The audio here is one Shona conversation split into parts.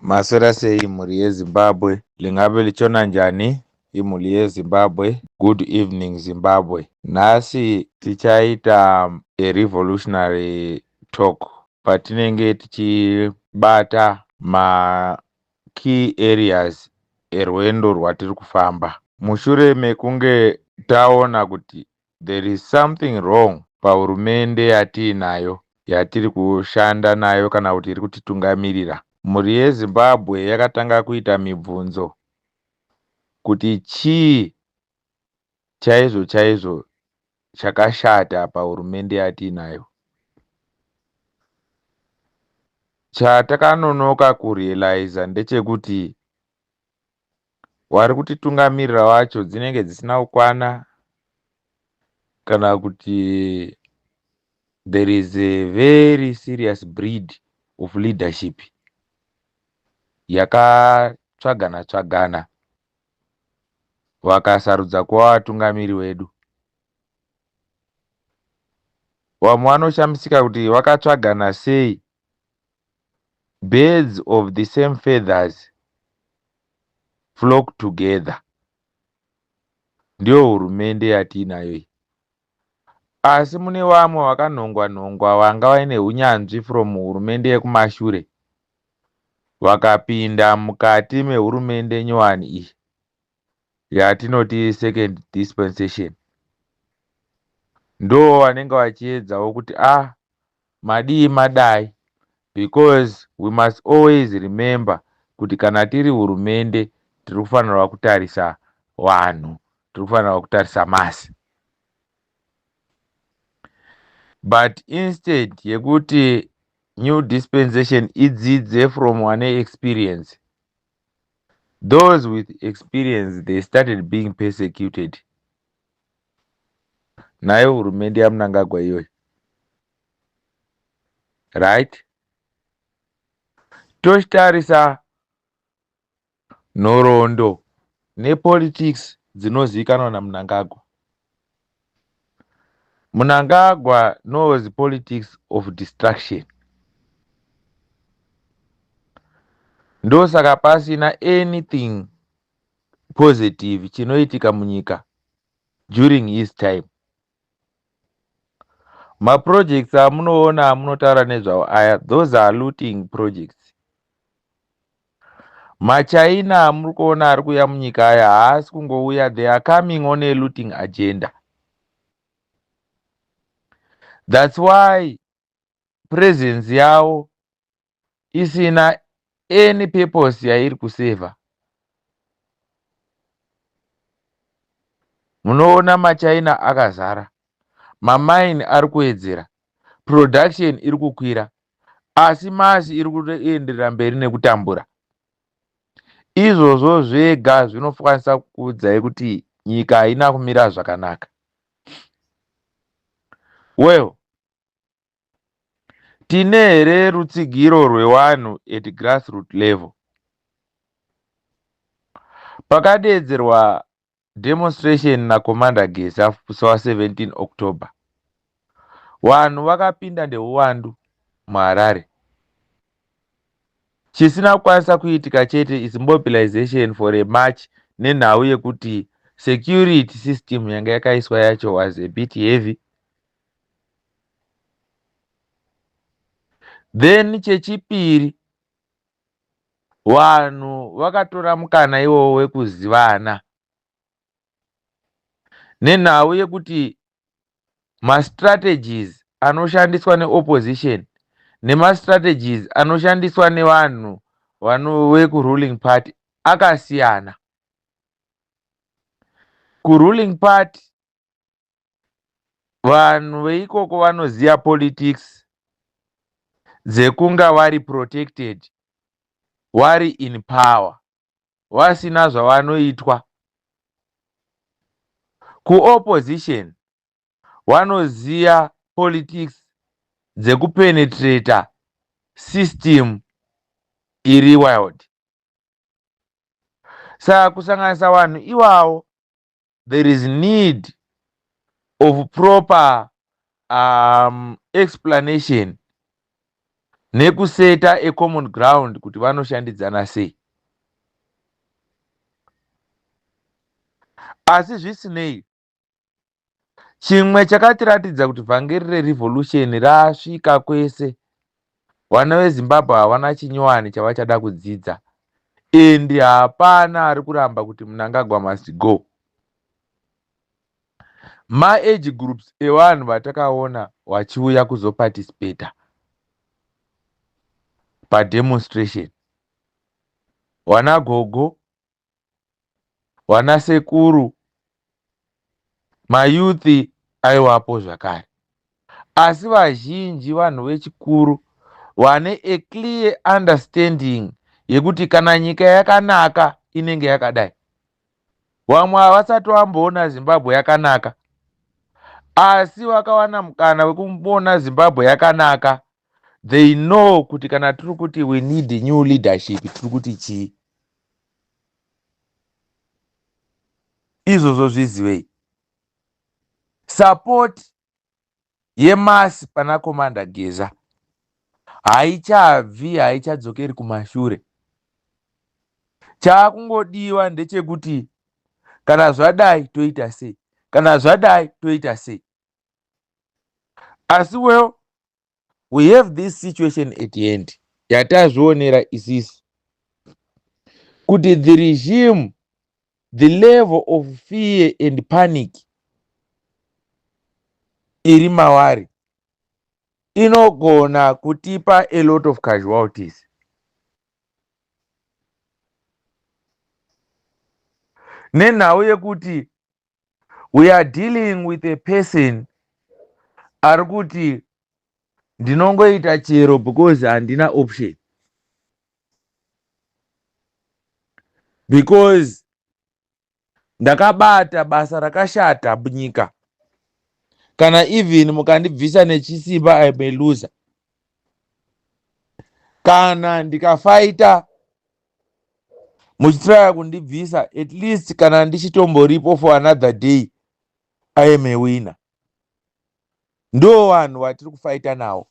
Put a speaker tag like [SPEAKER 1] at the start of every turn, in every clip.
[SPEAKER 1] Maswera sei mhuri yeZimbabwe? Lingabe lichona njani imhuri yeZimbabwe? Good evening Zimbabwe. Nhasi tichaita a revolutionary talk patinenge tichibata ma key areas erwendo rwatiri kufamba. Mushure mekunge taona kuti There is something wrong pahurumende yatiinayo yatiri kushanda nayo kana kuti iri kutitungamirira. Mhuri yeZimbabwe yakatanga kuita mibvunzo kuti chii chaizvo chaizvo chakashata pahurumende yatiinayo. Chatakanonoka kurealiza ndechekuti wari kutitungamirira wacho dzinenge dzisina kukwana kana kuti there is a very serious breed of leadership yakatsvagana tsvagana vakasarudza kuva vatungamiri wedu vamwe vanoshamisika kuti vakatsvagana sei birds of the same feathers flock together ndiyo hurumende yatiinayo iyi asi mune vamwe vakanhongwa nhongwa vanga vaine hunyanzvi from hurumende yekumashure vakapinda mukati mehurumende nyowani iyi yatinoti second dispensation ndo vanenge vachiedzawo kuti a ah, madii madai because we must always remember kuti kana tiri hurumende tiri kufanirwa kutarisa vanhu tiri kufanirwa kutarisa masi but instead yekuti new dispensation idzidze from ane experience those with experience they started being persecuted nayo hurumende yamunangagwa iyoyi right tochitarisa nhoroondo nepolitics dzinozivikanwa namunangagwa Mnangagwa knows politics of distraction. Ndosaka pasina anything positive chinoitika munyika during his time. Maprojects amunoona amunotaura nezvawo aya those are looting projects. Machina amuri kuona ari kuuya munyika aya haasi kungouya they are coming on a looting agenda thats why presence yavo isina any purpose yairi kuseva munoona machina akazara mamaini ari kuwedzera production iri kukwira asi masi iri kuenderera mberi nekutambura izvozvo zvega zvinokwanisa kukuudzai kuti nyika haina kumira zvakanaka well tine here rutsigiro rwewanhu at grassroot level pakadeedzerwa demonstration na commander geza musi wa 17 october vanhu vakapinda ndeuwandu muharare chisina kukwanisa kuitika chete is mobilization for a march nenhau yekuti security system yanga yakaiswa yacho was a bit heavy then chechipiri Vanhu vakatora mukana iwowo wekuzivana nenhau yekuti mastrategies anoshandiswa neopposition nemastrategies anoshandiswa nevanhu vano vekuruling party akasiyana. Kuruling party vanhu veikoko vanoziva politics dzekunga vari protected vari in power vasina zvavanoitwa kuopposition vanoziva politics dzekupenetrata system iri wild saka kusanganisa vanhu iwawo there is need of proper um, explanation nekuseta ecommon ground kuti vanoshandidzana sei asi zvisinei chimwe chakatiratidza kuti vhangeri rerevolution rasvika kwese Vana veZimbabwe havana chinyowani chavachada kudzidza and hapana ari kuramba kuti Mnangagwa must go. Ma age groups evanhu vatakaona vachiuya kuzoparticipata pademonstration, vana gogo vana sekuru mayuthi aiwapo zvakare asi vazhinji vanhu vechikuru vane a clear understanding yekuti kana nyika yakanaka inenge yakadai vamwe havasati vamboona zimbabwe yakanaka asi vakawana mukana wekumboona zimbabwe yakanaka they know kuti kana tiri kuti we need new leadership tiri kuti chii izvozvo zvizivei support yemasi pana komanda geza haichabvi haichadzokeri kumashure chaakungodiwa ndechekuti kana zvadai toita sei kana zvadai toita sei asi well we have this situation at the end yatazvionera isisi kuti the regime the level of fear and panic iri mawari inogona kutipa a lot of casualties nenhau yekuti we are dealing with a person ari kuti ndinongoita chero because handina option because ndakabata basa rakashata munyika kana even mukandibvisa nechisimba i may loser kana ndikafaita muchitraya kundibvisa at least kana ndichitomboripo for another day i am a winner ndo vanhu vatiri kufaita nawo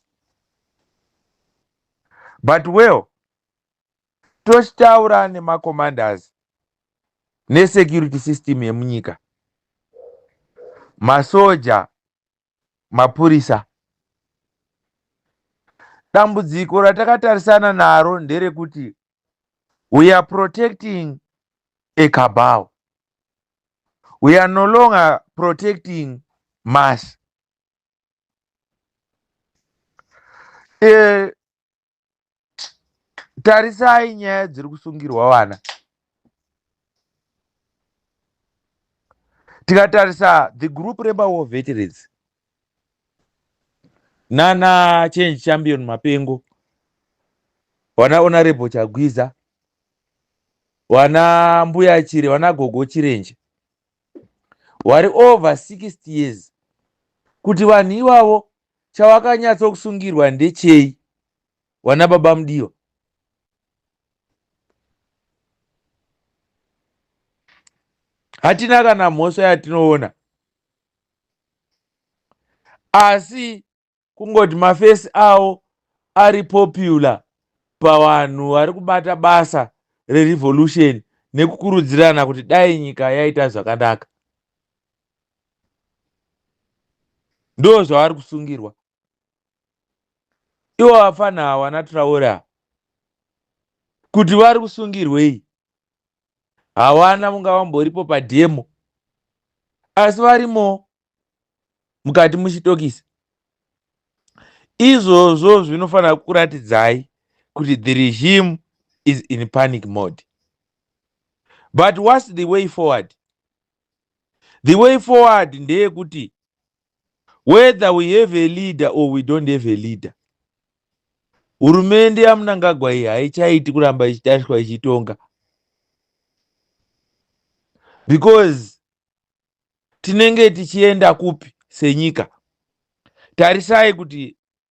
[SPEAKER 1] but well tochitaura nemacommanders nesecurity system yemunyika masoja mapurisa. Dambudziko ratakatarisana naro nderekuti we are protecting a cabal. We are no longer protecting mass. E, tarisai nyaya dziri kusungirwa vana tikatarisa the group remawar veterans nana change champion mapengo vana honorable chagwiza vana mbuya chire vana gogo chirenje wari over 60 years kuti vanhu ivavo chawakanyatso kusungirwa ndechei wana baba mudiwa hatina kana mhosva yatinoona asi kungoti mafesi awo ari popular pavanhu vari kubata basa rerevolution nekukurudzirana kuti dai nyika yaita zvakanaka ndo zvavari kusungirwa ivo vafana hawana traora kuti vari kusungirwei hawana vunga vamboripo pademo asi varimo mukati muchitokisi izvozvo zvinofanira kuratidzai kuti the regime is in panic mode but whats the way forward the way forward ndeyekuti whether we have a leader or we don't have a leader hurumende yamunangagwa iyi haichaiti kuramba ichitariswa ichitonga because tinenge tichienda kupi senyika tarisai kuti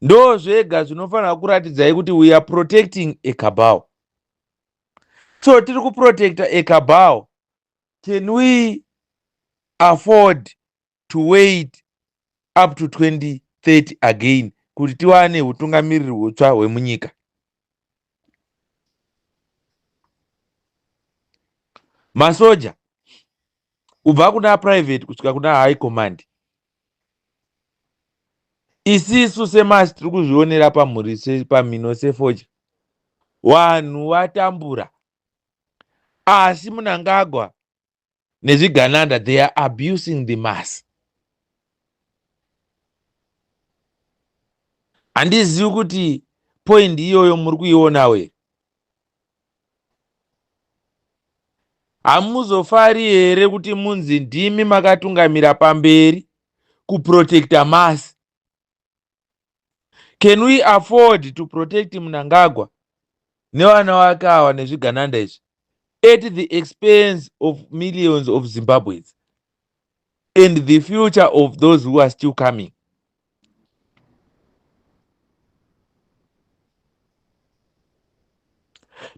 [SPEAKER 1] ndo zvega zvinofanira kuratidzai kuti we are protecting a cabal so tiri kuprotecta a cabal can we afford to wait up to 2030 again kuti tiwane utungamiriri hutsva hwemunyika masoja kubva kuna private kusvika kuna high command isisu semasi tiri kuzvionera pamhuri pamhino sefodya vanhu vatambura asi munangagwa nezvigananda they are abusing the mass handizivi kuti poindi iyoyo muri kuionawo here Hamuzofari here kuti munzi ndimi makatungamira pamberi kuprotecta masi? Can we afford to protect Mnangagwa nevana wake awa nezvigananda izvi at the expense of millions of Zimbabweans? and the future of those who are still coming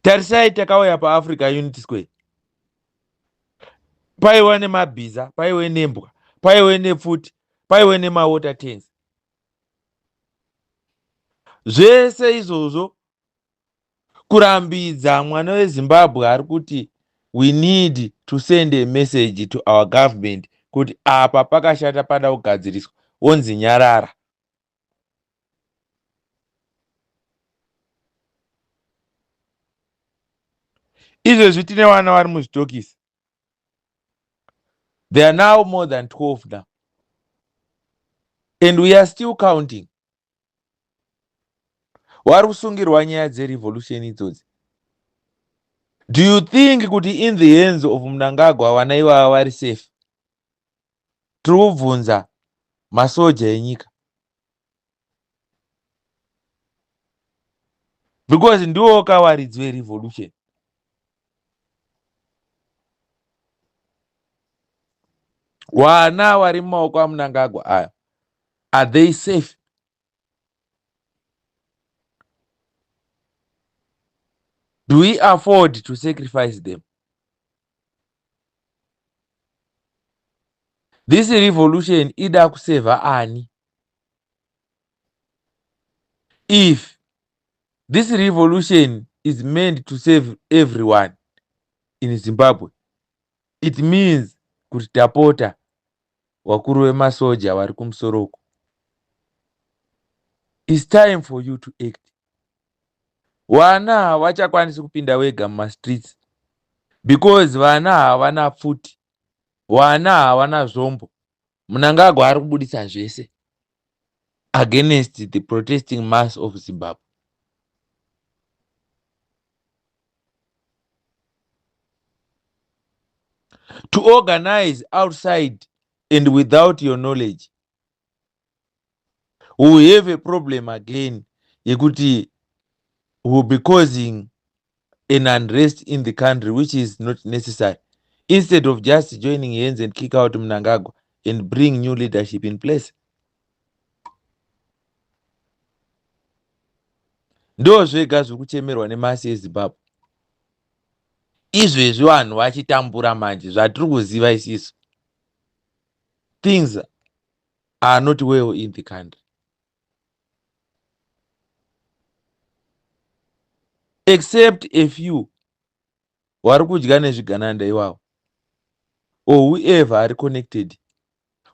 [SPEAKER 1] tarisai takauya paafrica unity square paiwa nemabhiza paiwe nembwa paiwe nepfuti paiwe nemawater tens zvese izvozvo kurambidza mwana wezimbabwe ari kuti we need to send a message to our government kuti apa pakashata pada kugadziriswa wonzi nyarara izvezvi tine vana vari muzvitokisi they are now more than 12 now and we are still counting wari kusungirwa nyaya dzerevolution idzodzi do you think kuti in the hands of munangagwa vana ivava vari safe tiri kubvunza masoja enyika because ndiwo kawaridzi werevolution wana wari mumaoko amunangagwa aya are they safe do we afford to sacrifice them this revolution ida kuseva ani if this revolution is meant to save everyone in zimbabwe it means kuti tapota vakuru vemasoja vari kumusoro uku its time for you to act vana havachakwanisi kupinda wega mumastreets because vana havana pfuti vana havana zvombo Mnangagwa ari kubuditsa zvese against the protesting mass of Zimbabwe. To organize outside and without your knowledge we will have a problem again yekuti we will be causing an unrest in the country which is not necessary instead of just joining hands and kick out mnangagwa and bring new leadership in place ndo zvega zviri kuchemerwa nemasi ezimbabwe izvezvi vanhu vachitambura manje zvatiri kuziva isisu things are not well in the country. Except a few vari kudya nezvigananda iwawo or whoever ari connected.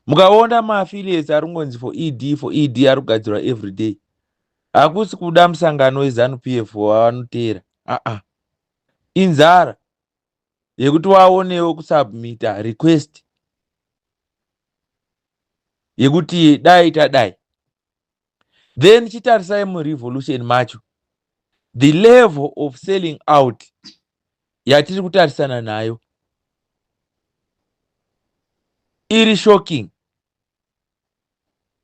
[SPEAKER 1] Mukaona maaffiliates ari kungonzi for ED for ED ari kugadzirwa every day. Hakusi kuda musangano weZanu PF wavanoteera. Uh-uh. Inzara. yekuti waonewo kusubmita request yekuti dai tadai then chitarisai murevolution macho the level of selling out yatiri kutarisana nayo iri shocking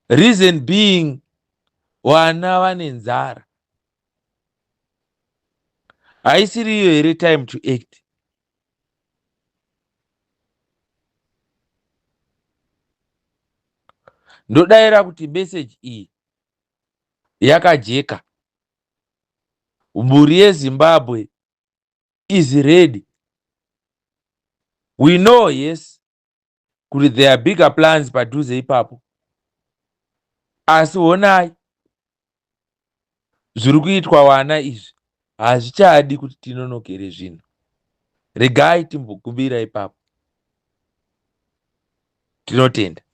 [SPEAKER 1] reason being vana vane nzara haisiri iyo here time to act ndodaira kuti meseji iyi yakajeka mhuri yezimbabwe is ready we know yes kuti there are bigger plans padhuze ipapo asi honai zviri kuitwa vana izvi hazvichadi kuti tinonokere zvinhu regai timbokumbira ipapo tinotenda